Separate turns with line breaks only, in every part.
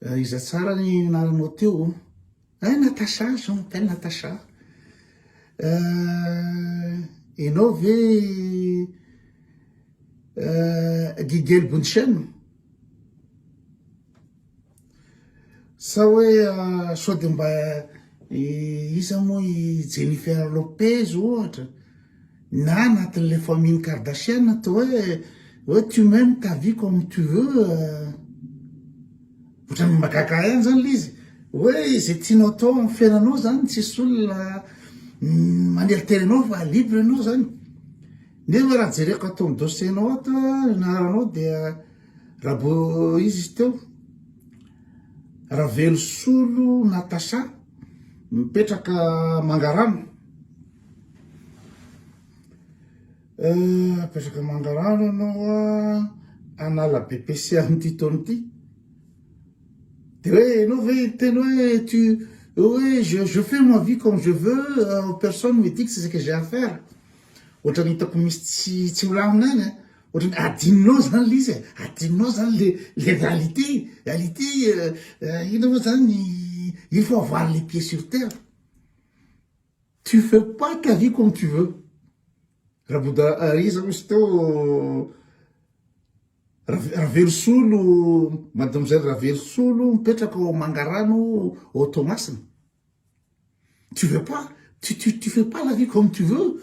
Eh, iza tsara ny anaranao teo oh? Eh, Natacha, je m'appelle Natacha. Eh, enao ve eh, Gigel Bunchen? Sa hoe eh, sao dia mba eh, iza moa i Jennifer Lopez ohatra? Na anatin'ilay famille-n'i Kardashian toa hoe hoe tu m'aimes ta vie comme tu veux ohatran'ny mahagaga ahy ihany zany le izy hoe izay tianao atao amin'ny fiainanao zany tsisy olona maneritery anao fa libre ianao zany nefa raha jereko ato amin'ny dossier-nao ato anaranao dia rabo izy izy teo Ravelosolo Natacha mipetraka Mangarano Eh, apetraka manga rano ianao an, hanala BEPC amin'ity taona ity, de hoe ianao ve hiteny hoe tu hoe je je fais ma vie comme je veux, personne me dit ce que j'ai à faire, ohatran'ny hitako misy tsy tsy milamina any an, ohatran'ny adinonao zany le izy e, adinonao zany le le réalité, réalité eh inona moa zany, il faut avoir les pieds sur terre. Tu fais pas ta vie comme tu veux. Raboda iza misy teo Ravelosolo mademoiselle Ravelosolo mipetraka ao Mangarano ao Toamasina. Tu veux pas tu tu tu fais pas la vie comme tu veux.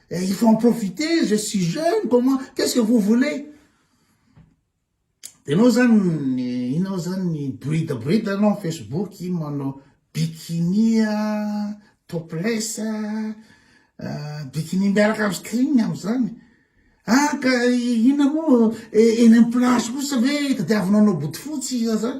Et il faut en profiter, je suis jeune, comment, qu'est-ce que vous voulez Dia nao zany, inao zany, brida brida nao Facebook, ino manao bikini, topless, euh, bikini miaraka amin'ny string amin'izany. Ah, ka inona moa, eny amin'ny place kosa ve, tadiavinao anao bodofotsy, zany.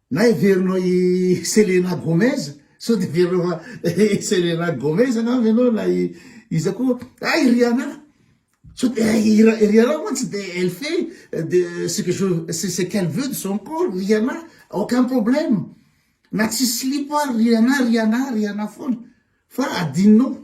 Na heverinao i Selena Gomez, sao dia heverinao fa i Selena Gomez angamba ianao na i iza koa, ah i Rihanna, sao dia i Rihanna mantsy dia elle fait de ce que je ce qu'elle veut de son corps, Rihanna aucun problème, na tsy silipo ary Rihanna, Rihanna, Rihanna foana, fa adinonao.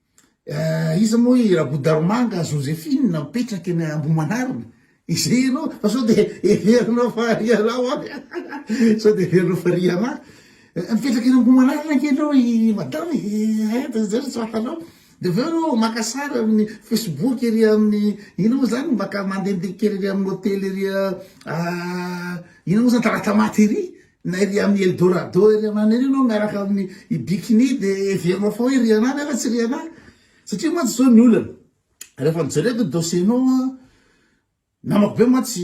Eh, iza moa i Rabodaromanga Josephine mipetraka eny Ambohimanarina? Izay ianao fa sao dia heverinao fa ry ianao an, sao dia heverinao fa ry ianao. Eh, mipetraka eny Ambohimanarina ange ianao i madame e, eh, eh, dia izay no tsy fantanao. Dia avy eo ianao maka sary amin'ny Facebook ery amin'ny inona moa izany, maka mandehandeha kely ery amin'ny hotely ery ah, inona moa izany, Talatamaty ery. Na ery amin'ny Eldorado ery anany ery ianao miaraka amin'ny i Bikini dia heverinao fa hoe ry anà nefa tsy ry anà. Satria mantsy izao ny olana, rehefa nijereko ny dossier-nao an, namako be mantsy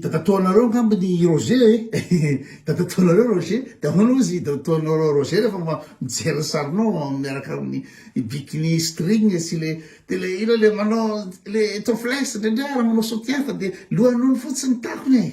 dadatoanareo angamba ny i Roger e, dadatoanareo Roger, dia ahoana hozy i dadatoanao Roger rehefa ma- mijery ny sarinao miaraka amin'ny i Bikini string sy le, dia le ilo le manao le topless indraindray ary manao soutien fa dia lohan'ondry fotsiny ny takony e.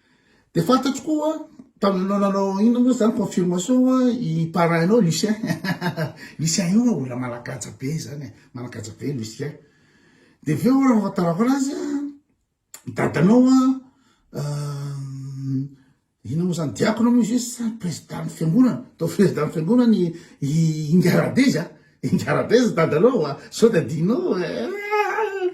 Dia fantatro koa tamin'anao nanao inona moa zany confirmation a i parrain nao Lucien Lucien io a olona managaja be zany e managaja be Lucien dia avy eo raha fantarako anazy a dadanao a inona moa zany diakona moa izy sa président ny fiangonana atao président ny fiangonana i Ingaradeza Ingaradeza dadanao a sao tadinao eh, eh, eh.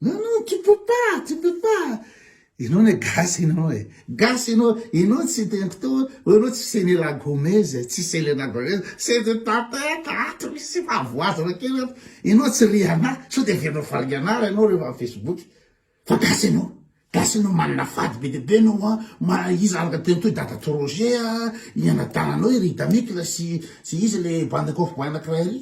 Non non tu peux pas tu peux pas enao ne gasy enao e gasy enao enao tsy de mpto hoe enao tsy senela gomez e tsy selena gomez c'est de ta tête ato misy fahavoazana kely ato enao tsy rihanah sao de averinao faringanara enao rehefa am facebook fa gasy enao gasy enao manana fady be de be enao a ma iza araka teny toy dada to roger a i anadananao i ridamikla sy sy iza le bande kofboy anakiray ry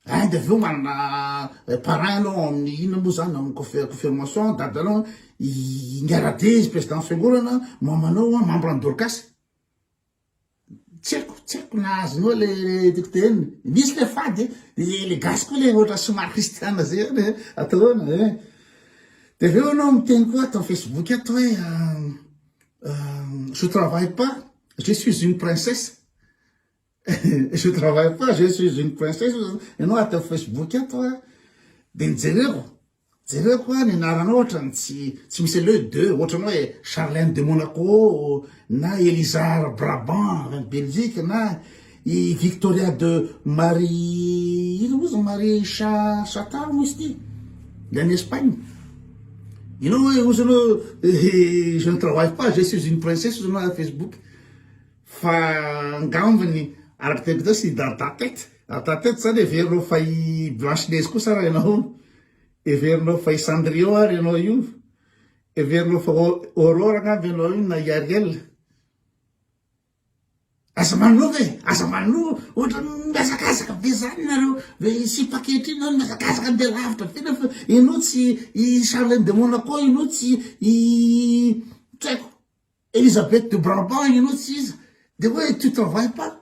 Hein de avy eo manana parrain anao ao amin'ny inona moa zany amin'ny confirmation dadanao an, Ingaradé izy président fiangonana, mamanao an, membre an'i Dorcas. Tsy haiko, tsy haiko na azony eo le tiako tenenina. Misy le fady e, de le gasy koa le ohatra somary kristiana zay ihany e, atao ahoana e. De avy eo anao miteny koa ato amin'ny Facebook ato hoe je travaille pas, je suis une princesse. Je travaille pas, je suis une princesse, ianao ato amin'ny Facebook ato a, dia nijereko, jereko a, ny anaranao ohatrany tsy tsy misy le de, ohatrany hoe Charlène de Monaco, na Elisard Brabant, en Belgique, na i Victoria de Marie, ino moa zany Marie Cha Chata moa izy ity, de any Espagne. Ianao hoe ozy ianao, je ne travaille pas, je suis une princesse, ozy ianao ato Facebook. Fa angambny araka tena teo sy Dada tety, Dada tety zany heverinao fa i Blanche Neige koa sa raha ianao hono? Heverinao fa i Cendrillon ary ianao io? Heverinao fa Aurore angamba ianao io na i Ariel? Aza manova e, aza manova, ohatrany mihazakazaka be zany nareo, sipa ankehitriny zany mihazakazaka andeha lavitra be nareo fa ianao tsy i Charlène de Monaco ianao tsy i tsy haiko. Elisabeth de Brabant ianao tsy iza de hoe tu travailles pas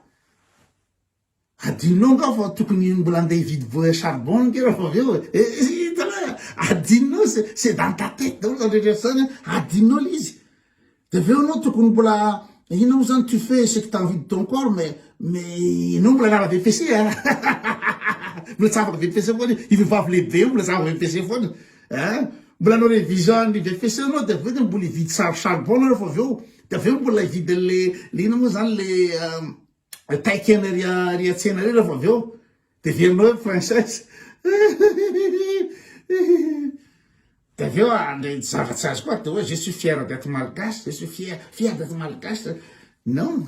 adinonao nga fa tokony mbola andeha hividy bois charbon nge raha fa avy eo e hitanao e adinonao c'est c'est dans ta tête daholo zany rehetra rehetra zany a adinonao le izy de avy eo anao tokony mbola inona moa zany tu fais ce que t'as envie de ton corps mais mais ianao mbola anara VPC a mbola tsy afaka VPC foana io io vehivavy lehibe io mbola tsy afaka VPC foana Eh, mbola hanao révision ny BEPC anao dia avy eo dia mbola hividy sary charbon nareo fa avy eo dia avy eo mbola hividy an'le le ina moa zany le eh, taikena ry ry atsena ry rehefa avy eo dia verinao hoe princesse dia avy eo andray ah, zavatsy azy koa dia hoe je suis fier d'être malgache je suis fier fier d'être malgache non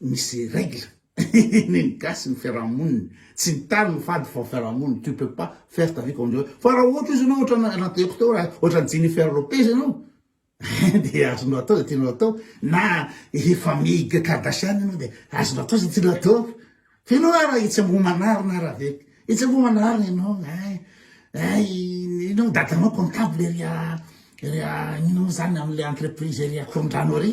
misy règle ny ny gasy ny fiarahamoniny tsy ny tany no fady fa fiarahamoniny tu peux pas faire ta vie comme tu fa raha ohatra izy anao ohatra anateko teo raha ohatra ny Jennifer Lopez ianao dia azonao atao zay tianao atao na i famille Kardashian ianao dia azonao atao zay tianao atao fa ianao ara etsy ambohimanarina ara ve etsy ambohimanarina ianao ay ay ianao dadanao comptable ery a ery a inona moa zany am'le entreprise ery a Korondrano ery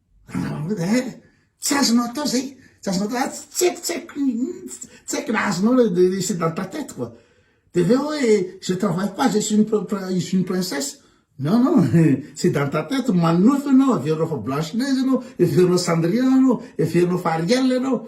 eh, tsy azonao atao zay tsy azonao atao ah, tsy haiko tsy haiko tsy haiko na azonao le c'est dans ta tête quoi de avy eo hoe je travaille pas je suis une je suis une princesse non non c'est dans ta tête manofy ianao averinao fa blanche neige ianao averinao cendrillon ianao averinao fa ariel ianao